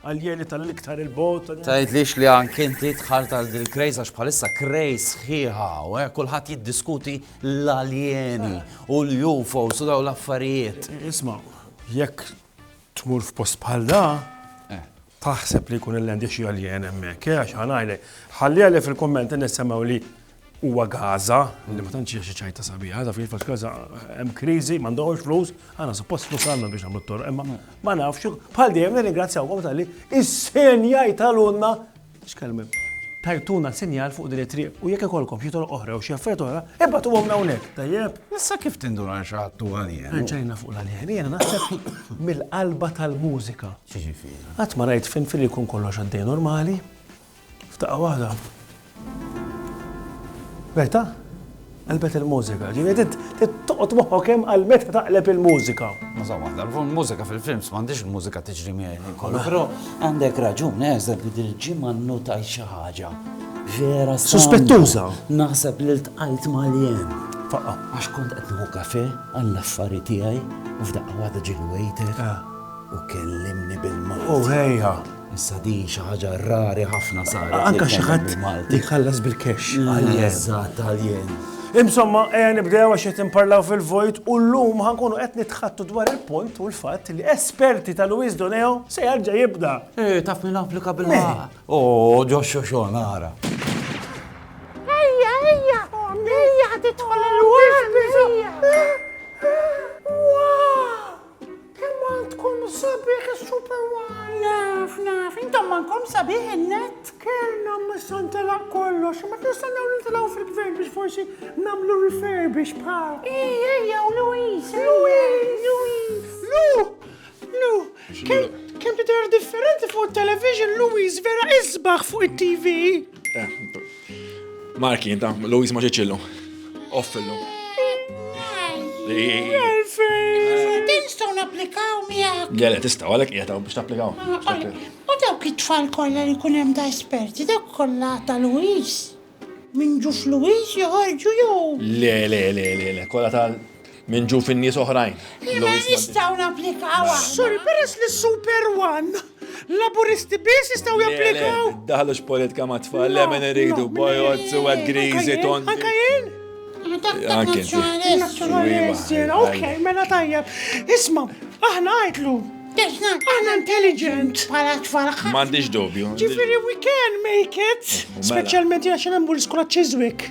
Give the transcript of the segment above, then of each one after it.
Għallieni tal-iktar 'il bogħod. Tgħidlix li anke inti dħalt għal dil craze għax bħalissa craze sħiħa hawn eh, kulħadd jiddiskuti l-aljeni u l-UFOs u dawn l-affarijiet. Isma', jekk tmur f'post bħal da, eh. taħseb li jkun il-lendi xi aljen hemmhekk, eh, għax ħanajlek. Ħalli għalli fil-kumment nissemgħu li Huwa Gaza, li ma tantx hija xi ċajta sabiħa, taf kif għax Gaza hemm kriżi, m'għandhomx flus, għandna suppost flus għandna biex nagħmlu t-torq, imma ma nafx, bħal dejjem nirringrazzjawkom tal-li is-senjaj tal-unna x'kelmem. Tajtuna sinjal fuq din it-triq u jekk ikollkom xi toroq oħra jew xi affarijiet oħra, ibagħtuhomlna hawnhekk, tajjeb? Issa kif tinduna li xi ħadd hu Għalien? Reġgħina fuq l-Għalien, jiena naħseb mill-qalba tal-mużika. X'jiġifieri? Qatt ma rajt finfin li jkun kollox għaddej normali, F'daqqa waħda. Meta? Qalbet il-mużika. Ġifieri trid toqgħod moħħok hemm għal meta taqleb il-mużika. Muża waħda, l-mużika fil-films m'għandix il-mużika tiġri miegħi kollu. Però għandek raġun, eżad li dil-ġimgħa nnutaj xi ħaġa. Vera Suspettuża. Naħseb li ltqajt mal-jen. Faqqa. Għax kont qed nieħu kafe għall-affari tiegħi u f'daqqa waħda ġiel waiter u kellimni bil-mod. U ħejja. Issa din xi ħaġa rari ħafna saret. Anke xi ħadd li jħallas bil-cash. Eżatt, għaljen. Insomma, ejja nibdew għax qed imparlaw fil-vojt u llum ħankunu qed nitħattu dwar il-punt u l-fatt li esperti ta' Luis Doneo se jarġa' jibda. Eh, taf min applika bil-ħaq. Oh, ġo xoxo nara. Kemm għandkom sabiħ is-Super One! Naf, naf, intom mankom sabiħ in-net! Kellna missa ntelaq kollox, ma nistennew nintilgħu fil-gvern biex forsi nagħmlu refurbish bħal. Ej, ejja, u Louise, Louise, Louise. Lu, Lu, kemm kemm tidher differenti fuq it-television Louise vera isbaħ fuq it-TV. Marki, inta, Louise ma ġeċillu. Offillu. Tinstaw naplikaw miegħek. Le, le, tistaw għalek qiegħed biex tapplikaw. U dawk it-tfal kollha li jkun hemm ta' esperti, dawk kollha ta' Louise. Minn ġuf Louise joħorġu jew. Le, le, le, le, le, kollha tal Minn ġu fin-nies oħrajn. Jena jistaw naplikaw. Sorry, peress li super one. Laburisti biss jistaw japplikaw. Daħlu x'politika ma tfal, le minn iridu, bojot, suwed, grizi, ton. Anka jien? Anke Ok, mela tajjeb. Isma, aħna għajtlu. Aħna intelligent. Pala tfal. M'għandix dubju. Ġifieri we can make it. Mela. Speċjalment jgħax hemm l-iskola Chiswick.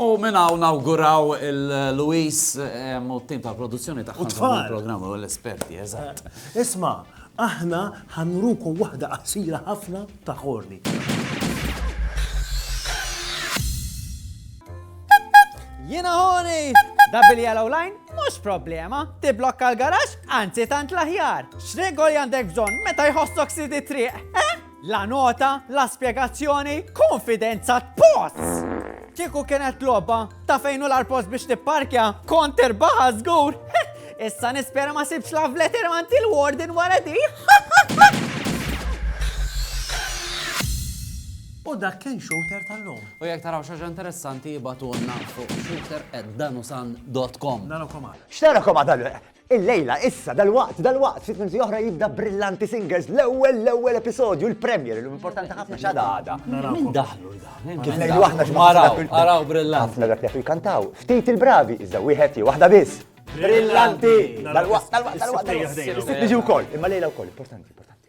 U minn hawn nawguraw il Louis u t-tim tal-produzzjoni tagħha. U t-tfal. Il-programm u l-esperti, eżatt. Isma', aħna ħa nurukom waħda qasira ħafna ta' Horny. Jiena Horny! Double yellow line? Mhux problema. Tibblokka l-garaxx? Anzi tant l-aħjar. X'regoli għandek bżonn meta jħossok sid it-triq? La nota, la spjegazzjoni, konfidenza tposs! Kieku kienet logħba ta' fejn u l-arpost biex tipparkja, kont irbaħa żgur. Issa nispera ma sibx la vleter manti l-warden wara di. U dak kien shooter tal-lum. U jek taraw xaġa interessanti jibatunna fuq shooter at danusan.com. Narakom għada. X'narakom għada? Illejla, issa, dalwaqt, dalwaqt, ftit minuti oħra jibda Brillanti Singers, l-ewwel, l-ewwel episodju, il-premiere, illum importanti ħafna x'għada għada. Min daħlu l-da? Min kif Ngħidu aħna xi ma Araw, dak- araw brillanti. Ħafna dak li jafu jkantaw, ftit il-bravi, iżda wieħed jew waħda biss. Brillanti! Dalwaqt, dalwaqt, dalwaqt, dalwaqt. Is-sibt niġi wkoll, imma lejla wkoll, importanti, importanti.